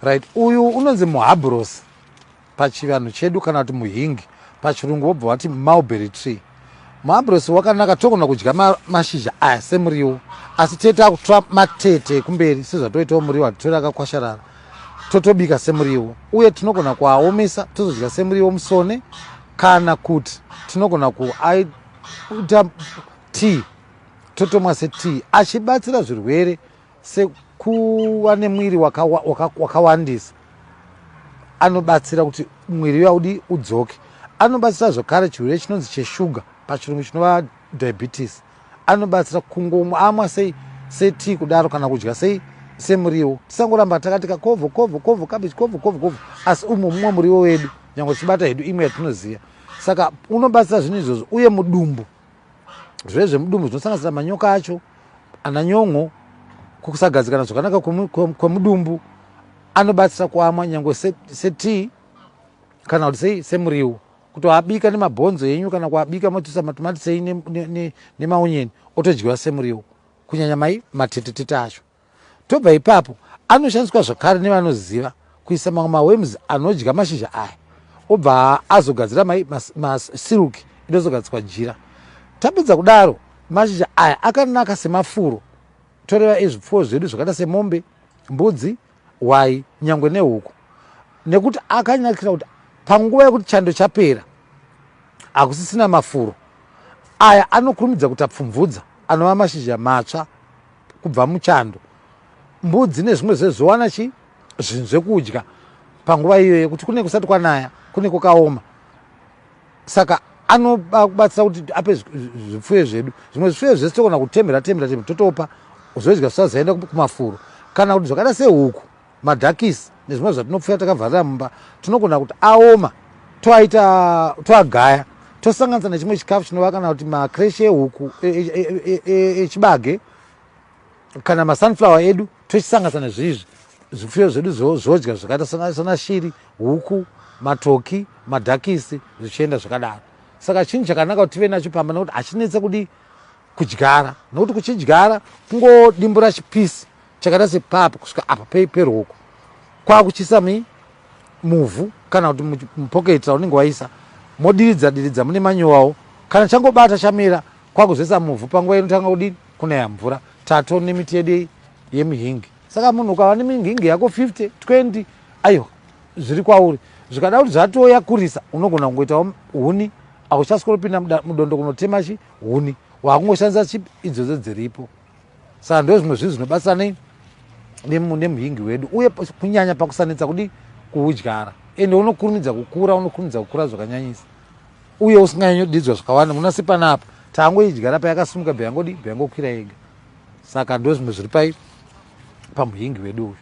Right, uyu unonzi muhabhurosi pachivanhu chedu kana kuti muhingi pachirungu wobva wati mulberry tree. Muhabhurosi wakanaka togona kudya ma, mashizha aya semuriwo asi tee takutora matete ekumberi sezvatoitawo muriwo hatitori akakwasharara totobika semuriwo uye tinogona kuaomesa tozodya semuriwo musone kana kuti tinogona kuaita tea totomwa setea achibatsira zvirwere sekuva nemwiri wakawandisa anobatsira kuti mwiri uya udi udzoke anobatsira zvakare chirwere chinonzi cheshuga pachirungu chinova diabetes anobatsira kungomwa amwa sei setii kudaro kana kudya sei semuriwo tisangoramba takati kakovho kovho kovho kabeji kovho kovho kovho asi umwe mumwe muriwo wedu nyange tichibata hedu imwe yatinoziva saka unobatsira zvinhu izvozvo uye mudumbu zvirwere zvemudumbu zvinosanganisira manyoka acho ana nyon'o kusagadzikana zvakanaka kwemudumbu anobatsira kuamwa nyange setii kana kuti sei semuriwo kuti waabika nemabhonzo enyu kana kuabika motusa matomatisei nemaonyeni otodyiwa semuriwo kunyanya mai matetetete acho Tobva ipapo, anoshandiswa zvakare nevanoziva kuisa mamwe maworms anodya mashizha aya obva azogadzira masilk inozogadziswa jira. Tapedza kudaro, mashizha aya akanaka semafuro toreva ezvipfuwo zvedu zvakaita semombe, mbudzi, hwai, nyangwe nehuku nekuti akanakira kuti panguva yekuti chando chapera hakusisina mafuro aya anokurumidza kutapfumvudza anova mashizha matsva kubva muchando mbudzi nezvimwe zvezvowana chi zvinhu zvekudya panguva iyoyo kuti kune kusati kwanaya kune kukaoma saka anobatsira kuti ape zvipfuyo zvedu zvimwe zvipfuyo zvese togona kutemhera temhera temhera totopa zvoidya zvisazoenda kumafuro kana kuti zvakaita sehuku madhakisi nezvimwe zvatinopfuya takavharira mumba tinogona kuti aoma toaita toagaya tosanganisa nechimwe chikafu chinova kana kuti makreshe ehuku echibage e, e, e, kana masunflower edu tochisanganisa nezviizvi zvifuyo zvedu zvodya zvakaita sana shiri huku matoki madhakisi zvichienda zvakadaro saka chinhu chakanaka kuti tive nacho pamba nokuti hachinetse kudii kudyara nokuti kuchidyara kungodimbura chipisi chakaita sepapa kusvika apa peroko kwakuchisa mi muvhu kana kuti mupoketi raunenge waisa modiridza diridza mune manyowawo kana changobata chamira kwakuzoisa muvhu panguva inotanga kudini kunaya mvura tato nemiti yedu yemihingi saka munhu ukava nemihingi yako 50 20 aiwa zviri kwauri zvikada kuti zvatoyakurisa unogona kungoitawo huni auchasikoropinda mudondo kunotema chi huni wakungoshandisa chip idzodzo dziripo saka ndo zvimwe zvinhu zvinobatsira nei nemuhingi wedu uye kunyanya pakusanetsa kudi kuudyara ende unokurumidza kukura unokurumidza kukura zvakanyanyisa uye usinganyanyodidzwa zvakawanda munasi panapa tangoidyara payakasumuka beyangodi beyangokwira yega saka ndo zvimwe zviri pai pamuhingi wedu uyu